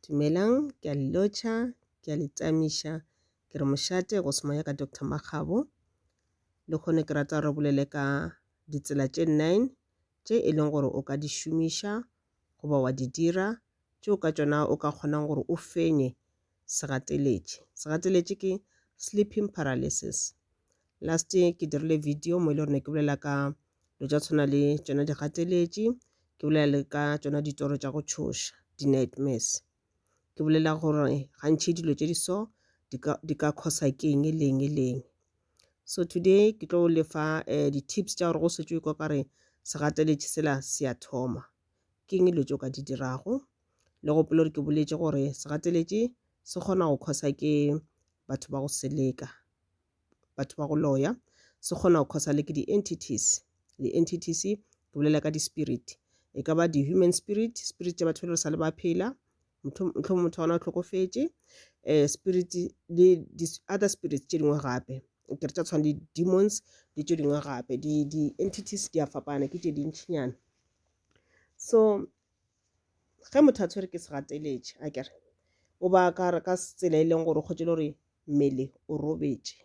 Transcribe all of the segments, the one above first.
Dumelang, ke a le lotšha, ke a le tsamiša. Ke re mošate go se moya ka Doctor Makgabo. Lehono ke rata re bolele ka ditsela tše nine tše e leng gore o ka di šomiša goba wa di dira tšeo ka tšona o ka kgonang gore o fenye segateletše. Segateletše ke sleeping paralysis. Last ke dirile video mo e le gore ne ke bolela ka dilo tša tshwana le tšona digateletši ke bolela le ka tšona ditoro tša go tšhoša di-nightmares. Ke bolela gore gantši dilo tše di so di ka di ka causer ke eng le eng le eng. So today ke tlo le fa di-tips tša gore go se tšwe kwa ka re segateletši sela se a thoma ke eng dilo tše o ka di dirago. Le gopola gore ke boletše gore segateletši se kgona go causer ke batho ba go seleka. batho ba go loya se kgona go khosa le ke di-entities di-entities ke bolela ka di-spirit e ka ba di-human spirit spirit tša batho ba le re sa le ba phela motlho motho wa gona o tlhokofetše um spirit le di-other spirits tše dingwe gape ke re tša tshwana le demons le tše dingwe gape di-entities di a fapana ke tše dintšhinyana so ge motho a tshwere ke segateletše a kere o ba ka re ka tsela e leng gore o kgotšele gore mmele o robetše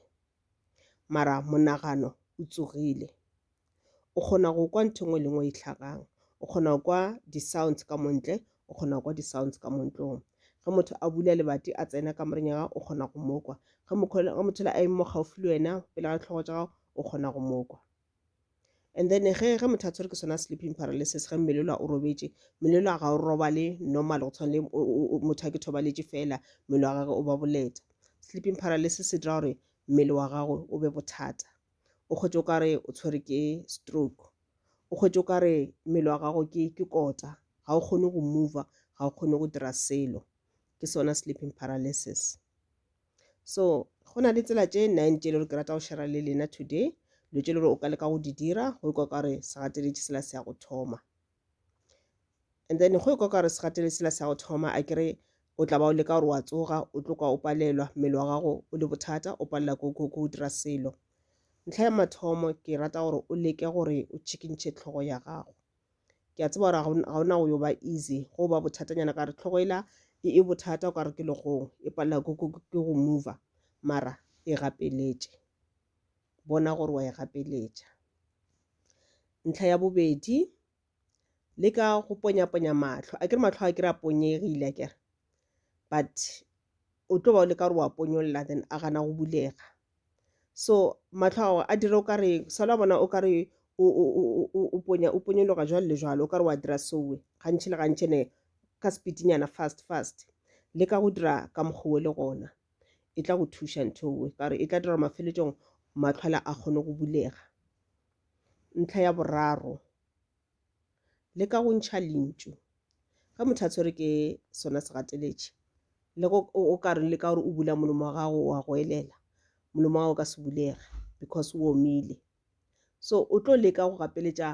mara monagano o tsogile o kgona go kwa ntho engwe le ngwe e tlhagang o kgona go kwa di-sounds ka montle o kgona go kwa di-sounds ka montlong ge motho a bula lebati a tsena ka moreng ya gago o kgona go mokwa ge motho le a emo gaufi le wena pele ga ditlhogo tsa gago o kgona go mokwa and then ge ge motho a tshwere ke sona sleeping paralysis ge mmele lwa o robetše mmele lwa ga o robale normal go tshwana le motho a ke thobaletše fela mmele wa gage o ba boleta sleeping paralysis e dira gore mmele wa gago o be bothata o kgwetše o ka re o tshwere ke stroke o kgwetše o ka re mmele wa gago ke ke kota ga o kgone go mova ga o kgone go dira selo ke sona sleeping paralysis So go na le tsela tše nine tše le gore ke rata go shera le lena today dilo tše le gore o ka leka go di dira go ikwa ka gore segateletše sela se ya go thoma and then go ikwa ka gore segateletše sela se ya go thoma a kere o tla ba o leka gore wa tsoga o tlo kwa o palelwa mmele wa gago o le bothata o palela ko dira selo ntlha ya mathomo ke rata gore o leke gore o tšhikintšhe tlhogo ya gago ke a tseba gore ga ona go yo ba easy go ba bothatanyana ka re tlhogo ela e e bothata o ka re ke legong e palela ke go mover mara e gapeletše bona gore wa e gapeletša ntlha ya bobedi le ka go ponyaponya matlho a ke re matlho a ke re a ponyegile a kere but o tlo ba o le ka gore wa ponyolola then a gana go bulega so mahlo a gago a dire o ka re sa la bona o ka re o ponya o ponyologa jwalo le jwalo o ka re wa dira sowe gantši le gantši ne ka speedinyana fast fast le ka go dira ka mokgowe le gona e tla go thuša nthowe ka gore e tla dira gore mafeletšong matlhwala a kgone go bulega ntlha ya boraro le ka go ntšha lentšu ge motho a tshwere ke sona segateletši le go o ka re le ka gore o bula molomo wa gago wa go elela molomo wa gago ka se bulege because o omile so o tlo leka go gapeletša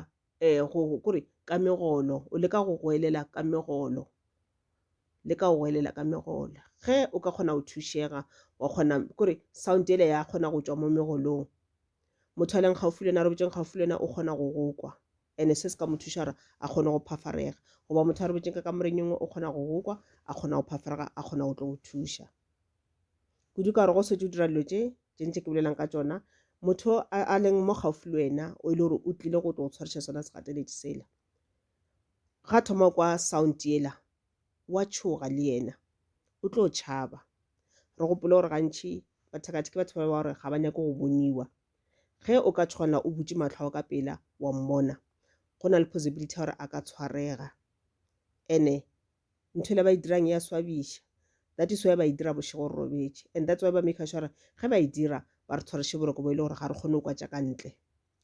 um go kore ka megolo o leka go go elela ka megolo le ka go elela ka megola ge o ka kgona go thušega wa kgona kore sound ele ya kgona go tšwa mo megolong motho a leng gaufi le wena a robetšeng gaufi le wena o kgona go go kwa ene se se ka mo thuša gore a kgone go phafarega goba motho a robetšeng ka kamoreng engwe o kgona go go kwa a kgona go phafarega a kgona go tlo go thuša kudu ka gore go setse o dira dilo tše tše ntse ke bolelang ka tsona motho a leng mo gaufi le wena o e le gore o tlile go tlo go tshwariša sona segateletše sela ga thoma kwa sound yela o a tšhoga le yena o tlo tšhaba re gopole gore gantši bathakatha ke batho ba ba gore ga ba nyake go boniwa ge o ka tshwana o butše matlho ao ka pela wa mmona go na le possibility gore a ka tshwarega ene ntho ele ba e dirang ya swabiša that is why ba e dira bošego re robetše and that's why ba make sure ge ba e dira ba re tshwareše boroko bo e le gore ga re kgone go kwa tša ka ntle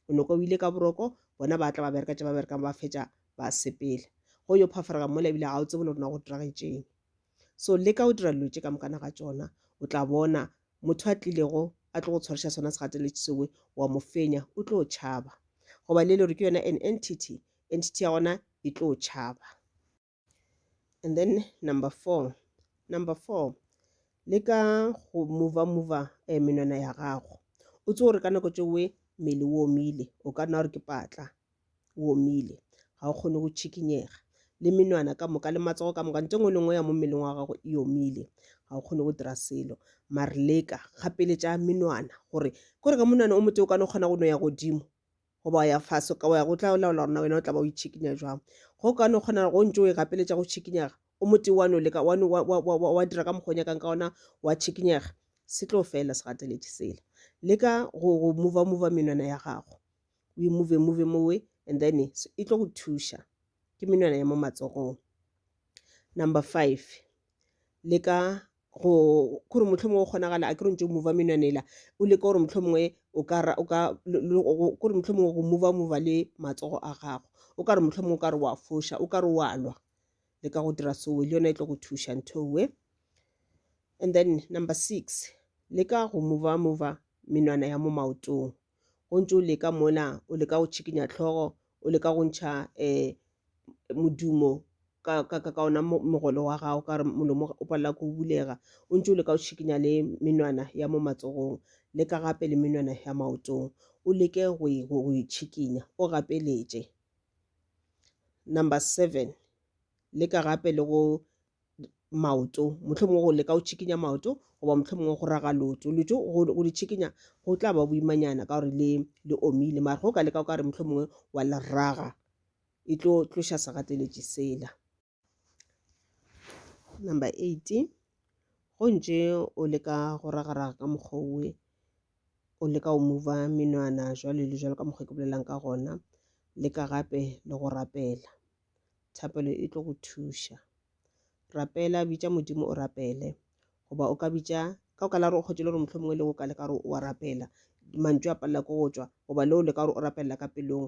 o noko o ile ka boroko bona ba tla ba bereka tše ba berekang ba fetša ba sepela go yo phafarega mola ebile ga o tsebe le rona go diragetšeng so le ka o dira dilo tše ka mokana ga tsona o tla bona motho a tlilego a tlo go tshwariša sona segateletše sewe wa mo fenya o tlo tšhaba goba le le gore ke yona an entity entity ya gona e tlo tšhaba And then number four. Number four. Le ka go mova mova eh, menwana ya gago. O tse gore ka nako tše we mmele o omile. O ka nna gore ke patla. O omile. Ga o kgone go tšhikinyega. Le menwana ka moka le matsogo ka moka. Ntse ngwe le ngwe ya mo mmeleng wa gago e omile. Ga o kgone go dira selo. Mare leka gapeletša menwana gore kore ka monwana o mote o ka no kgona go no ya godimo. goba wa ya fase ka wa ya go tla o laola gorena wena o tla ba o itšhikinya jwang go ka no kgona go ntse o e gapeletša go tšhikinyaga o mote wa no leka wa dira ka mokgwa o nyakang ka ona wa tšhikinyega se tlo fela se gateletše sela leka go mova mova menwana ya gago o e move move mowe and then e tlo go thuša ke menwana ya mo matsogong number five leka go gore mohlomongwe go kgonagala a ke re ntse o mova menwana ela o leka gore mohlomongwe o ka ra- o ka le- le- go- go- gore mohlomongwe go mova mova le matsogo a gago o ka re mohlomongwe o ka re wa foša o ka re wa lwa le ka go dira sowe le yona e tlo go thuša nthowe and then number six le ka go mova mova menwana ya mo maotong o ntse o leka mona o leka go tšhikinya tlhogo o leka go ntšha um modumo ka ka ka ka ona mogolo wa gago ka gore molomo o palela ko bulega o ntse o leka go tšhikinya le menwana ya mo matsogong le ka gape le menwana ya maotong o leke go e go e tšhikinya o gapeletše number seven leka gape le go maoto mohlomongwe go leka go tšhikinya maoto goba mohlomongwe go raga lotso lotso go le tšhikinya go tla ba boimanyana ka gore le le omile mare go ka leka o ka re mohlomongwe wa le raga e tlo tloša segateletši sela number eight go ntše o leka go ragaraga ka mokgwa owe o leka go mova menwana jwale le jwalo ka mokgwa ke bolelang ka gona leka gape le go rapela thapelo e tlo go thuša. Rapela, bitša Modimo o rapele. Goba o ka bitša, ka o ka la gore o kgotše le gore mohlho mongwe le go ka le ka gore o a rapela, mantšu a palela ko go tšwa, goba leo le ka gore o rapelela ka pelong,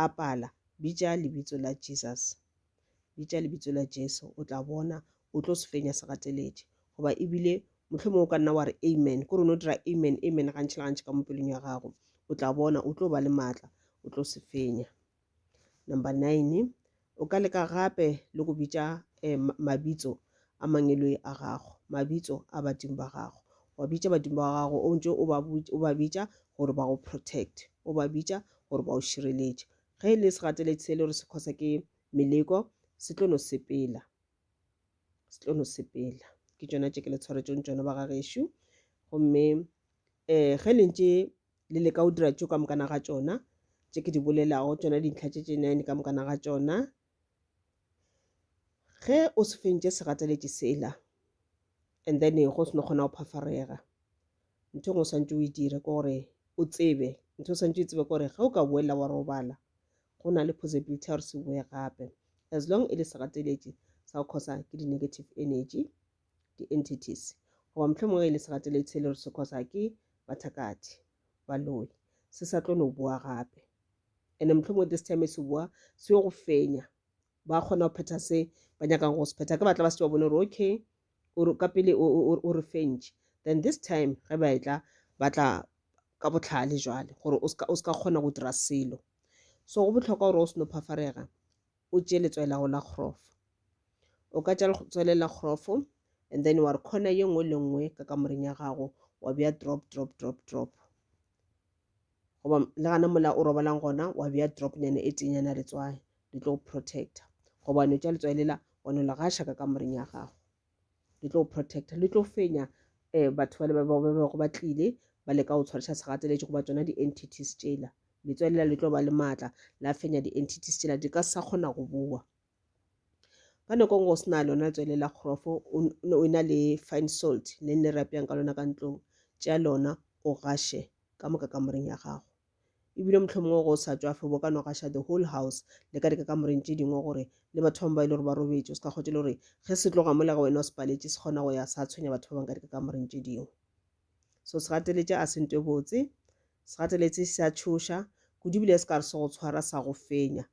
a pala. Bitša lebitso la Jesus. Bitša lebitso la Jesu, o tla bona o tlo se fenya se gateletše. Goba ebile mohlho mongwe o ka nna wa re Amen, ke gore o no dira Amen, Amen gantši le gantši ka mo pelong ya gago. O tla bona o tlo ba le matla, o tlo se fenya. Number nine, o ka leka gape le go bitša eh, mabitso a mangeloi a gago mabitso a badimo ba gago wa bitša badimo ba gago o ntse o ba bitša gore ba go protect o ba bitša gore ba o šireletše ge e le segateletše se le gore se khosa ke meleko se tlo no sepela se tlo no sepela ke tšona tše ke le tshwaretšong tšona ba ga gešo gomme um ge le ntše le leka go dira tšo ka mokana ga tšona tše ke di bolelago tšona dintlha tše tše nine ka mokana ga tšona ge o se fentše segateletše sela and then go se no kgona go phafarega ntho engwe o swantse o e dire ke gore o tsebe ntho o swantse o tsebe ke gore ge o ka boela wa robala go na le possibility ya gore se boe gape as long e le segateletše sa go khosa ke di-negative energy di-entities, goba mohlomongwe ge e le segateletshele re se khosa ke bathakathi, baloi, se sa tlo no boa gape. Ene mohlomongwe this time se boa se yo go fenya, ba kgona go phetha se ba nyakang go se phetha. Ke batla ba se ba bone gore okay, o ka pele o re fentše, then this time ge ba etla ba tla ka botlhale jwale gore o ska kgona go dira selo. So go bohlokwa gore o seno phafarega o tše letswai la go la kgrofo o ka tša letswai le la kgrofo and then wa re khona ye nngwe le nngwe ka kamoreng ya gago wa bea drop drop drop drop goba le gana mola o robalang gona wa bea drop nyana e tenyana letswai le tlo protecta gobane o tša letswai lela wa no le gaša ka kamoreng ya gago le tlo protecta le tlo fenya um batho ba le ba bego ba tlile ba leka go tshwariša segateletše goba tsona di-entities tšela letswelela le tlo ba le maatla la fenya di-entities tšela di ka sa kgona go boa ka nako e nngwe o se na lona letswele la kgorofo o na le fine salt le ne re apeyang ka lona ka ntlong tšea lona o gaše ka moka kamoreng ya gago E bile mohlomongwe go sa tšwafe bo ka no gaša the whole house le ka dikakamoreng tše dingwe gore le batho bangwe ba e le gore ba robetše o se ka kgotše le gore ge se tloga mola ga wena o se paletše se kgona go ya sa tshwenya batho ba bangwe ka dikakamoreng tše dingwe. So se gateletše a se nto e botse, se gateletse se a tšhoša kudu ebile se ka re se go tshwara sa go fenya.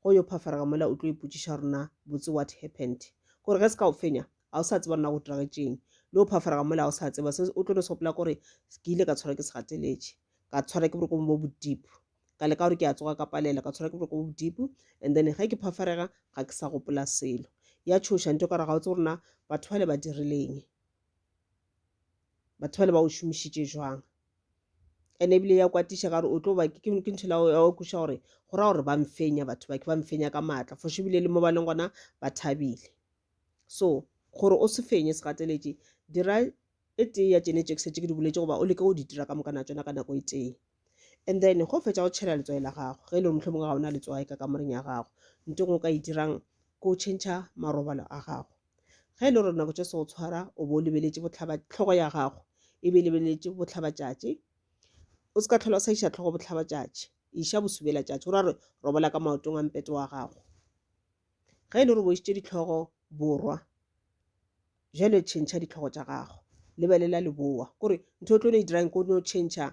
Go yo phafarega mola o tlo ipotšiša gore na botse what happened? Gore ge se ka go fenya ga o sa tseba nna go diragetšeng le o phafarega mola ga o sa tseba se o tlo no se gopola gore ke ile ka tshwarwa ke segateletše ka tshwarwa ke boroko bo bodipo ka leka gore ke a tsoga ka palela ka tshwarwa ke boroko bo bodipo and then ge ke phafarega ga ke sa gopola selo ya tshoša nto ka re ga o tse gore na batho bale ba dirileng batho bale ba o šomišitše jwang ene ebile ya kwatiša ka gore o tlo ba ke ke ntho la ya o kweša gore go ra gore ba mfenya batho ba ke ba mfenya ka maatla fo ebile le mo ba leng gona ba thabile So, gore o se fenye segateletši, dira e tee ya tšene tše ke šetše ke di boletše goba o leke go di dira ka mokana tšona ka nako e tee. And then, ge o fetša go tšhela letswai la gago, ge e le gore mohlomongwe ga o na letswai ka kamoreng ya gago, nto engwe o ka e dirang ke go tšhentšha marobalo a gago. Ge e le gore nako tše se go tshwara o bo o lebeletše bohlaba tlhogo ya gago e be e lebeletše bohlabatšatši, o se ka tlhola o sa iša tlhogo bohlabatšatši, iša bosubelatšatši, go ra gore robola ka maotong a mpete wa gago. Ge e le gore o bošitše dihlogo borwa, bjale tšhentšha dihlogo tša gago, lebelela leboa. Kore ntho o tlo no e dirang ko no tšhentšha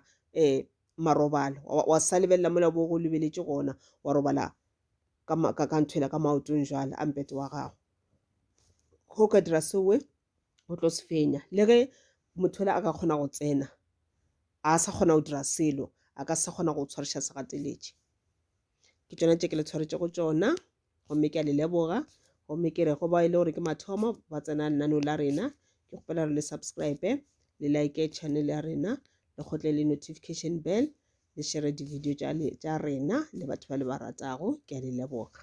um marobalo, wa sa lebelela mola bo go lebeletše gona, wa robala ka ntho ela ka maotong jwale a mpete wa gago. Ge o ka dira seo we, o tlo se fenya. Le ge motho yola a ka kgona go tsena, a sa kgona go dira selo, a ka se sa kgona go tshwariša segateletše. ke tšona tše ke le tshwaretše go tšona gomme ke a le leboga gomme ke re go ba e le gore ke mathomo ba tsena lenano la rena ke kgopela gore le subscribe le like channel ya rena le kgotle le notification bell le shere di-video tša rena le batho ba le ba ratago ke a le leboga